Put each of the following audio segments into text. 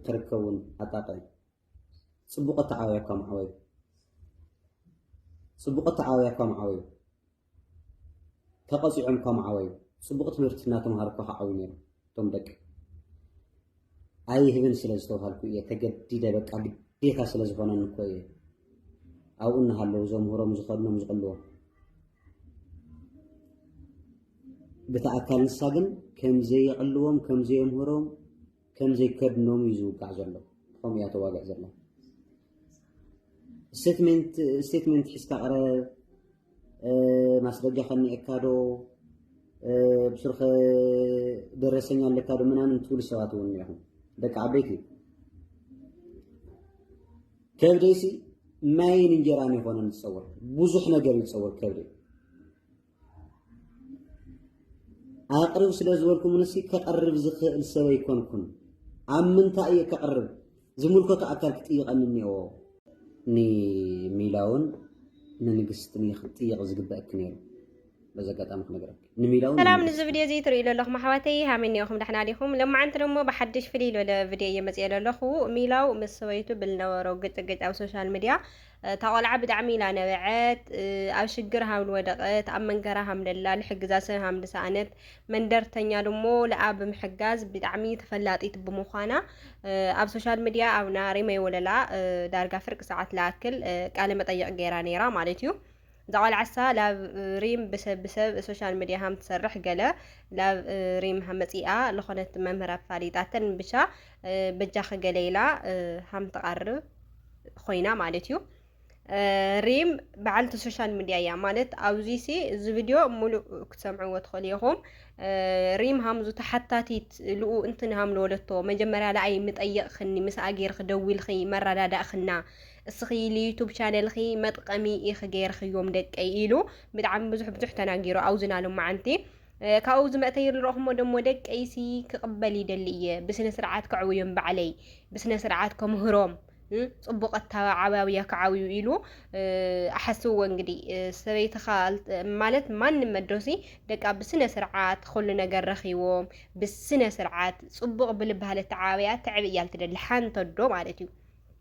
ክርከቡን ኣጣቅዕ ጽቡቅ ኣተዓባብያ እኳ ምዓበዩ ጽቡቅ ኣተዓባብያ እኳ ምዓበዩ ተቐጺዖም እኳ ምዓበዩ ጽቡቅ ትምህርቲ እናተምሃሩ እኳ ክዓብዩ ነይሩ እቶም ደቂ ኣይህብን ስለ ዝተባሃልኩ እየ ተገዲደ በቃ ግዴታ ስለ ዝኾነኒ እኮ እየ ኣብኡ እናሃለዉ ዘምህሮም ዝኸድኖም ዝቕልዎ ብቲ ኣካል ንሳ ግን ከምዘየቕልዎም ከምዘየምህሮም ከምዘይ ከድኖም እዩ ዝውጋዕ ዘሎ ከምኡ እያ ተዋግዕ ዘላ ስቴትመንት ስቴትመንት ሒዝካ ቅረብ ማስረጃ ከኒኤካ ዶ ብስርኸ ደረሰኛ ኣለካ ዶ ምናምን ትብሉ ሰባት እውን እኒኹም ደቂ ዓበይቲ ከብደይሲ ማይን እንጀራን ይኾነን ዝፀወር ብዙሕ ነገር ይፀወር ከብደይ ኣቕርብ ስለ ዝበልኩምንሲ ከቕርብ ዝኽእል ሰብ ኣይኮንኩን። ኣብ ምንታይ እየ ከቕርብ ዝምልከቶ ኣካል ክጥይቐኒ እኒአዎ። ንሚላውን ንንግስትን እየ ክትጥይቕ ዝግበእክ ነይሩ። በዚ ኣጋጣሚ ክነግረክ ንሚላውን ሰላም ንዚ ቪድዮ እዚ ትርእዩ ዘለኹም ኣሕዋተይ ሃመይ ኒኦኹም ዳሕና ዲኹም ለማዓንቲ ደሞ ብሓድሽ ፍልይ ዝበለ ቪድዮ እየ መፅኤ ዘለኹ ሚላው ምስ ሰበይቱ ብልነበሮ ግጭግጭ ኣብ ሶሻል ሚድያ እታ ቆልዓ ብጣዕሚ ኢና ነበዐት ኣብ ሽግር ሃም ወደቀት ኣብ መንገራ ሃም ደላ ልሕግዛ ሰብ ሃም ድሰኣነት መንደርተኛ ድሞ ለኣ ብምሕጋዝ ብጣዕሚ ተፈላጢት ብምዃና ኣብ ሶሻል ሚዲያ ኣብ ናሪ መይወለላ ዳርጋ ፍርቂ ሰዓት ለኣክል ቃለ መጠየቅ ገይራ ነይራ ማለት እዩ ዘቆልዓሳ ላብ ሪም ብሰብ ብሰብ ሶሻል ሚዲያ ሃም ትሰርሕ ገለ ላብ ሪም መፂኣ ዝኾነት መምህር ኣፋሊጣተን ብቻ በጃኺ ገለ ኢላ ሃም ትቐርብ ኮይና ማለት እዩ ሪም በዓልቲ ሶሻል ሚድያ እያ ማለት ኣብዚ ሲ እዚ ቪድዮ ሙሉእ ክትሰምዕዎ ትኽእሉ ኢኹም። ሪም ሃምዙ ተሓታቲት ልኡ እንትን ሃም ለወለቶ መጀመርያ ለኣይ ምጠየቕኽኒ ምስ ኣጌርኺ ደዊልኺ መረዳዳእኽና እስኺ ልዩቱብ ቻነልኺ መጥቀሚ ኢኺ ገይርኽዮም ደቀይ ኢሉ ብጣዕሚ ብዙሕ ብዙሕ ተናጊሩ ኣውዝና ሎመዓንቲ ካብኡ ዝመእተዩ ንረኹሞ ደሞ ደቀይሲ ክቕበል ይደሊ እየ ብስነ ስርዓት ከዕውዮም ባዕለይ ብስነ ስርዓት ከምህሮም ፅቡቅ ኣተዓባብያ ክዓብዩ ኢሉ ኣሓስብዎ እንግዲህ ሰበይትኻ ማለት ማንም መዶሲ ደቃ ብስነ ስርዓት ኩሉ ነገር ረኺዎም ብስነ ስርዓት ፅቡቅ ብልባህለ ተዓብያ ተዕብ እያ ልትደሊ ሓንተዶ ማለት እዩ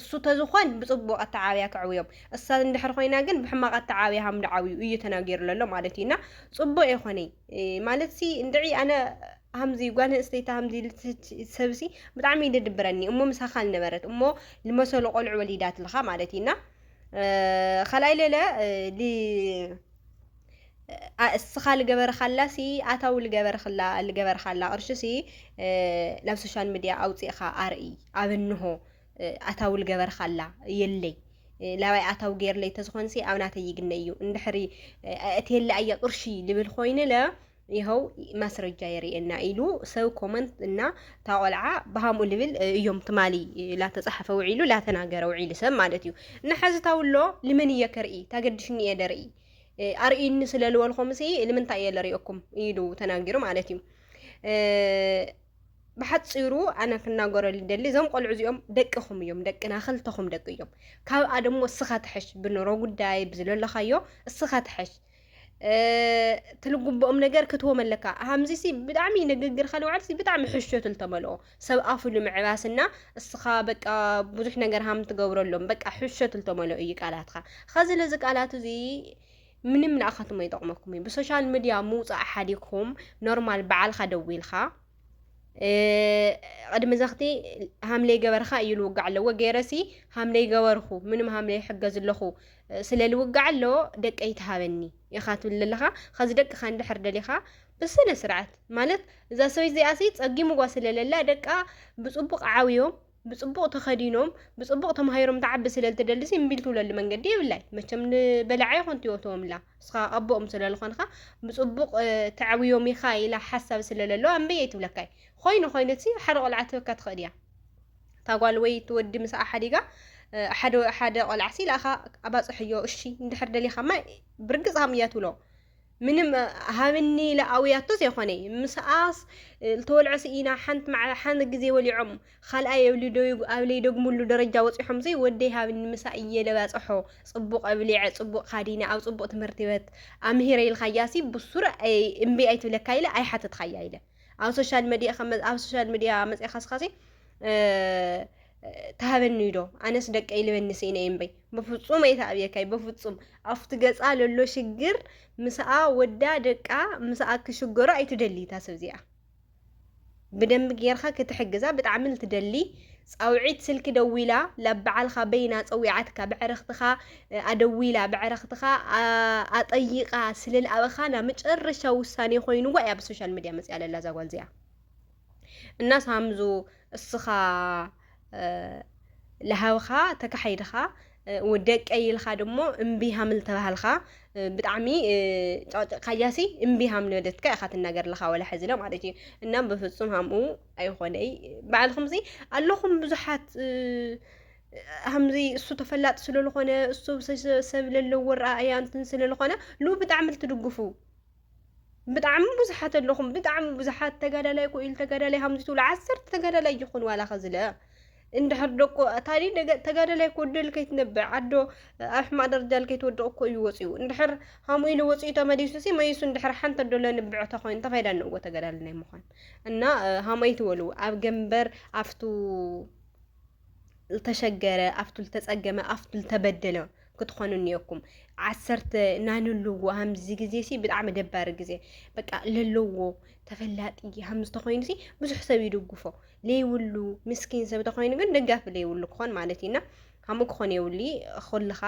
እሱ ተዝኾን ብጽቡቕ ኣተዓብያ ከዕብዮም እሳ እንድሕር ኾይና ግን ብሕማቕ ኣተዓብያ ሃም ድዓብዩ እዩ ተናጊሩ ለሎ ማለት እዩ እና ጽቡቕ የኾነይ ማለት ሲ እንድዒ ኣነ ሃምዚ ጓል ኣንስተይቲ ሃምዚ ሰብሲ ብጣዕሚ እዩ ድድብረኒ እሞ ምሳኻ ልነበረት እሞ ልመሰሉ ቆልዑ ወሊዳትልኻ ማለት እዩ እና ካልኣይ ለለ እስኻ ልገበርኻላሲ ኣታዊ ልገበርክላ ልገበርካላ ቅርሽሲ ናብ ሶሻል ሚድያ ኣውፂእኻ ኣርኢ ኣብ እንሆ ኣታዊ ልገበርካላ የለይ ላባይ ኣታዊ ገይርለይ ተዝኾንሲ ኣብ ናተይ ይግነ እዩ እንድሕሪ እትየለ ኣየ ቅርሺ ልብል ኮይንለ ይኸው ማስረጃ የርእየና ኢሉ ሰብ ኮመንት እና ታቆልዓ ብሃምኡ ልብል እዮም ትማሊ ላተፀሓፈ ውዒሉ ላተናገረ ውዒሉ ሰብ ማለት እዩ እና ሕዚ ታውሎ ልመን እየ ከርኢ ታገድሽኒ እየ ደርኢ ኣርእዩኒ ስለ ዝበልኩምሲ ንምንታይ እየ ልርእየኩም ኢሉ ተናጊሩ ማለት እዩ ብሓፂሩ ኣነ ክናገሮ ልደሊ እዞም ቆልዑ እዚኦም ደቅኹም እዮም ደቅና ክልተኹም ደቂ እዮም ካብኣ ደሞ እስኻ ትሐሽ ብኑሮ ጉዳይ ብዝለለኻዮ እስኻ ትሐሽ ትልጉብኦም ነገር ክትዎም ኣለካ ሃምዚሲ ብጣዕሚ ንግግርካ ንባዕልሲ ብጣዕሚ ሕሾት ልተመልኦ ሰብ ኣፉ ንምዕባስ እና እስኻ በቃ ብዙሕ ነገር ሃም ትገብረሎም በቃ ሕሾት ልተመልኦ እዩ ቃላትኻ ኸዚ ለዚ ቃላት እዚ ምንም ንኣኻትሞ ይጠቕመኩም እዩ ብሶሻል ሚድያ ምውፃእ ሓዲግኩም ኖርማል በዓልካ ደዊልካ ቅድሚ ዘኽቲ ሃምለይ ገበርካ እዩ ልውጋዕ ኣለዎ ገይረሲ ሃምለይ ገበርኹ ምንም ሃምለይ ሕገዝ ኣለኹ ስለ ልውጋዕ ኣለዎ ደቀይ ትሃበኒ ኢኻ ትብል ዘለኻ ኸዚ ደቅኻ እንድሕር ደሊኻ ብስነ ስርዓት ማለት እዛ ሰበይቲ እዚኣሲ ጸጊምዋ ስለለላ ደቃ ብጽቡቕ ዓብዮም ብጽቡቕ ተኸዲኖም ብጽቡቕ ተማሂሮም ትዓቢ ስለልትደልሲ እምቢ ልትብለሉ መንገዲ የብላይ መቸም ንበላዓ ይኹን ትወትወምላ እስኻ ኣቦኦም ስለልኾንኻ ብጽቡቕ ተዕብዮም ኢኻ ኢላ ሓሳብ ስለለለዋ እምበይ ኣይትብለካይ ኮይኑ ኮይኑሲ ሓደ ቆልዓ ትበካ ትኽእል እያ እታ ጓል ወይ እቲ ወዲ ምስኣ ሓዲጋ ሓደ ሓደ ቆልዓ ሲላኻ ኣባፅሕዮ እሺ እንድሕር ደሊኻማ ብርግፅ ሃም እያ ትብሎ ምንም ሃብኒ ኢለ ኣውያቶ ዘይኮነይ ምስኣስ ዝተወልዐ ስኢና ሓንቲ መዓ ሓንቲ ግዜ ወሊዖም ካልኣይ ኣብ ለይደግሙሉ ደረጃ ወፂሖም ዘይ ወደይ ሃብኒ ምሳ እየ ለባፅሖ ፅቡቅ ኣብሊዐ ፅቡቅ ካዲነ ኣብ ፅቡቅ ትምህርቲ ቤት ኣምሂረ ኢልካያሲ ብሱር እምቢ ኣይትብለካ ኢለ ኣይሓተትካያ ኢለ ኣብ ሶሻል መዲያ ኣብ ሶሻል መዲያ መፅእኻስኻሲ ተሃበኒ ዶ ኣነስ ደቀይ ልበኒ ስኢነ እምበይ በፍጹም ኣይትኣብየካይ በፍጹም ኣብቲ ገጻ ለሎ ሽግር ምስኣ ወዳ ደቃ ምስኣ ክሽገሩ ኣይትደሊ እታ ሰብ እዚኣ ብደንቢ ጌርካ ክትሕግዛ ብጣዕሚ ልትደሊ ጻውዒት ስልኪ ደዊላ ላብ በዓልካ በይና ጸዊዓትካ ብዕረክትካ ኣደዊላ ብዕረክትካ ኣጠይቃ ስለልኣበካ ናብ መጨረሻ ውሳኔ ኮይኑዋ እያ ብሶሻል ሚድያ መጽያ ለላ እዛ ጓል እዚኣ እና ሳምዙ እስኻ ለሃብኻ ተካሒድኻ ደቀይ ኢልካ ድሞ እምቢ ሃምል ተባሃልካ ብጣዕሚ ጫጭካያሲ እምቢ ሃምል ወደትካ ኢኻ ትናገር ለኻ ወላ ሕዚ ለ ማለት እዩ እና ብፍፁም ሃምኡ ኣይኾነይ በዓልኹም ዚ ኣለኹም ብዙሓት ሃምዚ እሱ ተፈላጥ ስለዝኾነ እሱ ሰብ ለለዎ ረኣያ እንትን ስለዝኾነ ሉ ብጣዕሚ ልትድግፉ ብጣዕሚ ብዙሓት ኣለኹም ብጣዕሚ ብዙሓት ተጋዳላይ ኮ ኢሉ ተጋዳላይ ሃምዚ ትብሉ ዓሰርተ ተጋዳላይ ይኹን ዋላ ከዝለ እንድሕር ደቆ ታዲ ተጋዳላይ ኮ ደል ከይትነብዕ ኣዶ ኣብ ሕማቅ ደረጃ ከይትወድቕ እኮ እዩ ወፂኡ እንድሕር ሃሙ ኢሉ ወፂኡ ተመሊሱ ሲ መይሱ እንድሕር ሓንቲ ኣዶ ለንብዕ ተኮይኑ እንታይ ፋይዳ ኣለዎ ተጋዳላይ ናይ ምዃን እና ሃመይ ትበሉ ኣብ ገንበር ኣብቱ ዝተሸገረ ኣብቱ ዝተፀገመ ኣብቱ ዝተበደለ ክትኾኑ እኒኦኩም ዓሰርተ ናይ ንልዎ ሃምዚ ግዜ ሲ ብጣዕሚ ደባሪ ግዜ በቃ ለለዎ ተፈላጢ ሃም ዝተኮይኑ ሲ ብዙሕ ሰብ ይድግፎ ለይብሉ ምስኪን ሰብ ተኮይኑ ግን ደጋፊ ለይብሉ ክኾን ማለት እዩና ከምኡ ክኾን የብሉ ኩልኻ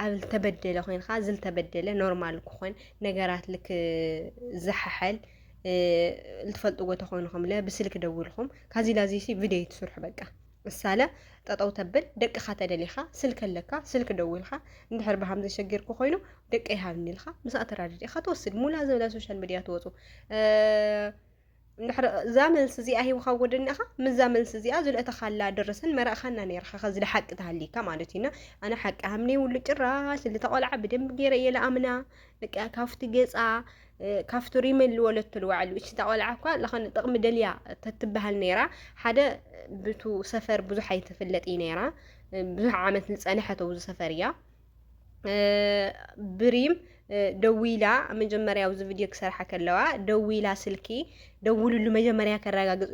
ኣብ ዝተበደለ ኮይንካ ዝተበደለ ኖርማል ክኾን ነገራት ልክ ዝሓሐል ልትፈልጥዎ ተኾይንኹም ለ ብስልክ ደውልኹም ካዚ ላዚ ሲ ቪድዮ ትስርሑ በቃ ምሳለ ጠጠው ተብል ደቅኻ ተደሊኻ ስልኪ ኣለካ ስልኪ ደዊልካ እንድሕር ብሃም ዘሸጊርኩ ኮይኑ ደቀይ ሃብኒ ኢልካ ምስኣ ተራድኢኻ ትወስድ ሙላ ዝበለ ሶሻል ሚዲያ ትወፁ እንድሕር እዛ መልሲ እዚኣ ሂብካ ጎደኒኻ ምዛ መልሲ እዚኣ ዝልእተኻላ ድርስን መራእኻና ነርካ ከዚ ሓቂ ተሃሊካ ማለት እዩና ኣነ ሓቂ ሃምኒ ውሉ ጭራሽ ዝተቆልዓ ብደንብ ገይረ እየ ለኣምና በቃ ካፍቲ ገፃ ካፍቱ ሪመን ልወለቶ ልዋዕሉ እቺ ቆልዓ እኳ ለኸነ ጥቕሚ ደልያ ተትበሃል ነይራ ሓደ ብቱ ሰፈር ብዙሕ ኣይትፍለጥ እዩ ነይራ ብዙሕ ዓመት ዝፀንሐት ኣብዚ ሰፈር እያ ብሪም ደዊላ መጀመሪያ ኣብዚ ቪድዮ ክሰርሓ ከለዋ ደዊላ ስልኪ ደውልሉ መጀመሪያ ከረጋግፅ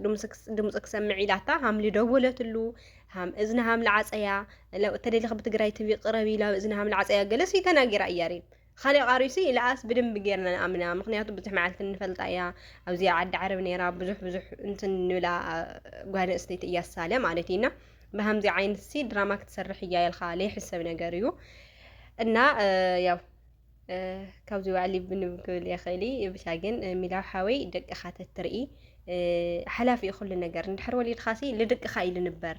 ድምፂ ክሰምዕ ኢላታ ሃም ልደወለትሉ ሃም እዝኒ ሃም ልዓፀያ ተደሊኽ ብትግራይ ትቪ ቅረብ ኢላ እዝኒ ሃም ልዓፀያ ገለስ ተናጊራ እያ ሪም ኻሊእ ቃሪሱ ይልኣስ ብድንቢ ጌርና ንኣምና ምክንያቱ ብዙሕ መዓልቲ ንፈልጣ እያ ኣብዚኣ ዓዲ ዓረብ ነይራ ብዙሕ ብዙሕ እንትን ንብላ ጓል ኣንስተይቲ እያ ሳለ ማለት እዩና ብሃምዚ ዓይነት ሲ ድራማ ክትሰርሕ እያ ኢልካ ለይሕሰብ ነገር እዩ እና ያው ካብዚ ውዕሊ ብንብ ክብል የኽእል ብቻ ግን ሚላው ሓወይ ደቅኻ ተትርኢ ሓላፊ እዩ ኩሉ ነገር እንድሕር ወሊድኻሲ ልድቅኻ እዩ ልንበር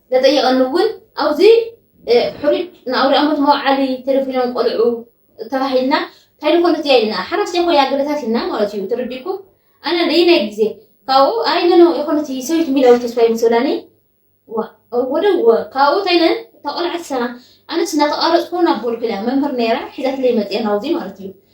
ተጠይቐን እውን ኣብዚ ሕሩጭ ንኣውርያ ሞት መውዓሊ ተደፊኖም ቆልዑ ተባሂልና እንታይ ዝኾነ እዚኣ ኢልና ሓራስታይ ኮይና ገለታት ኢልና ማለት እዩ ተረዲእኩም ኣነ ለይናይ ግዜ ካብኡ ኣይ ነኖ የኮነት ሰበይቲ ሚላዊ ተስፋይ ምስ ብላኒ ወደወ ካብኡ እንታይ ነን እታ ቆልዓሳ ኣነስ እናተቃረፅኩ ናብ ቦልኩ ኢላ መምህር ነይራ ሒዛትለይ መፅያ ናብዚ ማለት እዩ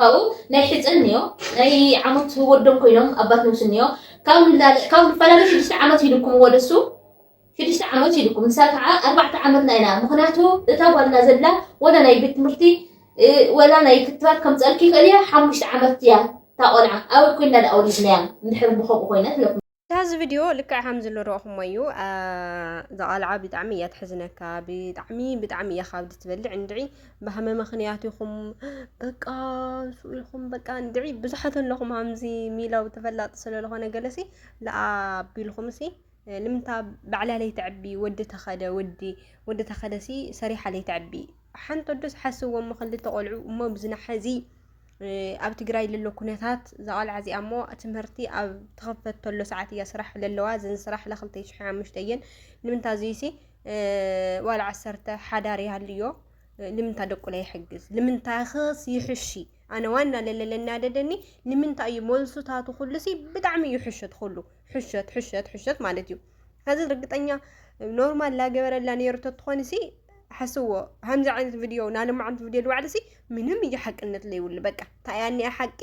ካብኡ ናይ ሕጸን እንዮ ናይ ዓሞት ወዶም ኮይኖም ኣባት ነብሱ እንዮ ካብ ንላለ ካብ ንፈላለ ሽዱሽተ ዓመት ሂዱኩም ወደሱ ሽዱሽተ ዓመት ሂዱኩም ንሳ ከዓ ኣርባዕተ ዓመትና ኢና ምክንያቱ እታ ጓልና ዘላ ወላ ናይ ቤት ትምህርቲ ወላ ናይ ክትባት ከምፀልኪ ይኽእል እያ ሓሙሽተ ዓመት እያ ታቆልዓ ኣበይ ኮይና ደኣ ወሊድናያ እንድሕር ብከምኡ ኮይነት ዳዚ ቪድዮ ልክዕ ሃም ዝሉ ረኹሞ እዩ ዘቓልዓ ብጣዕሚ እያ ትሕዝነካ ብጣዕሚ ብጣዕሚ እያ ካብዲ ትበልዕ እንድዒ ባህመ ምኽንያት ይኹም በቃ ሱ ይኹም በቃ እንድዒ ብዙሓት ኣለኹም ሃምዚ ሚላው ተፈላጢ ስለለኾነ ገለሲ ለኣቢልኹም ሲ ልምንታ ባዕላ ለይተዕቢ ወዲ ተኸደ ወዲ ወዲ ተኸደሲ ሰሪሓ ለይተዕቢ ሓንተ ዶስ ሓስዎም ክልተ ቆልዑ እሞ ብዝናሓዚ ኣብ ትግራይ ልሎ ኩነታት እዛ ቘልዓ እዚኣ እሞ ትምህርቲ ኣብ ተኸፈተሎ ሰዓት እያ ስራሕ ለለዋ እዘን ስራሕ ለክልተ ሽሕ ሓሙሽተ እየን ንምንታ እዙይሲ ዋላ ዓሰርተ ሓዳር ይሃልዮ ልምንታ ደቁለ ይሕግዝ ልምንታ ኽስ ይሕሺ ኣነ ዋና ለለ ለናደደኒ ልምንታ እዩ መልሱታቱ ኩሉሲ ብጣዕሚ እዩ ሕሸት ኩሉ ሕሸት ሕሸት ሕሸት ማለት እዩ ኣዚ ርግጠኛ ኖርማል ላገበረላ ነይሩ ተትኾን ሲ ሓስዎ ከምዚ ዓይነት ቪድዮ ናልማዓንቲ ቪድዮ ልባዕሊ ሲ ምንም እዩ ሓቅነት ለይብሉ በቃ ታይያ ኒኣ ሓቂ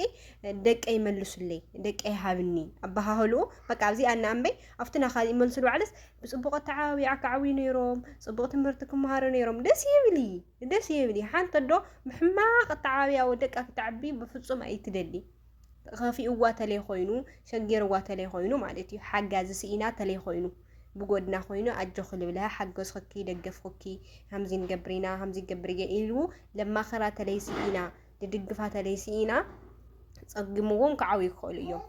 ደቀይ መልሱለይ ደቀይ ሃብኒ ኣበሃህልኡ በቃ ኣብዚ ኣና ኣምበይ ኣብቲ ናኻ ይመልሱ ልባዕልስ ብፅቡቅ ኣተዓባቢዓ ክዓብዩ ነይሮም ፅቡቅ ትምህርቲ ክመሃሩ ነይሮም ደስ ይብሊ ደስ ይብሊ ሓንቲ ዶ ብሕማቅ ኣተዓባቢያ ወደቃ ክተዕቢ ብፍፁም ኣይትደሊ ከፊኡዋ ተለይ ኮይኑ ሸጊርዋ ተለይ ኮይኑ ማለት እዩ ሓጋዚ ስኢና ተለይ ኮይኑ ብጎድና ኮይኑ ኣጆኺ ልብልሃ ሓገዝኹኪ ደገፍኹኪ ሃምዚ ንገብሪና ሃምዚ ገብርየ ኢሉ ለማኸራ ተለይ ስኢና ድድግፋ ተለይ ስኢና ጸጊምዎም ክዓብዩ ይኽእሉ እዮም።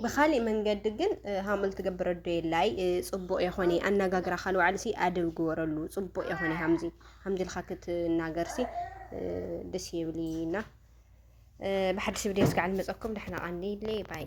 ብካሊእ መንገዲ ግን ሃምል ትገብረ ዶ የላይ ጽቡቅ የኾነ ኣነጋግራ ካል ዋዕልሲ ኣደብ ግበረሉ ጽቡቅ የኾነ ሃምዚ ሃምዚ ኢልካ ክትናገርሲ ደስ የብልይና ብሓድሽ ቪድዮ እስካዕ ንመፀኩም ዳሕና ቀንይለይ ባይ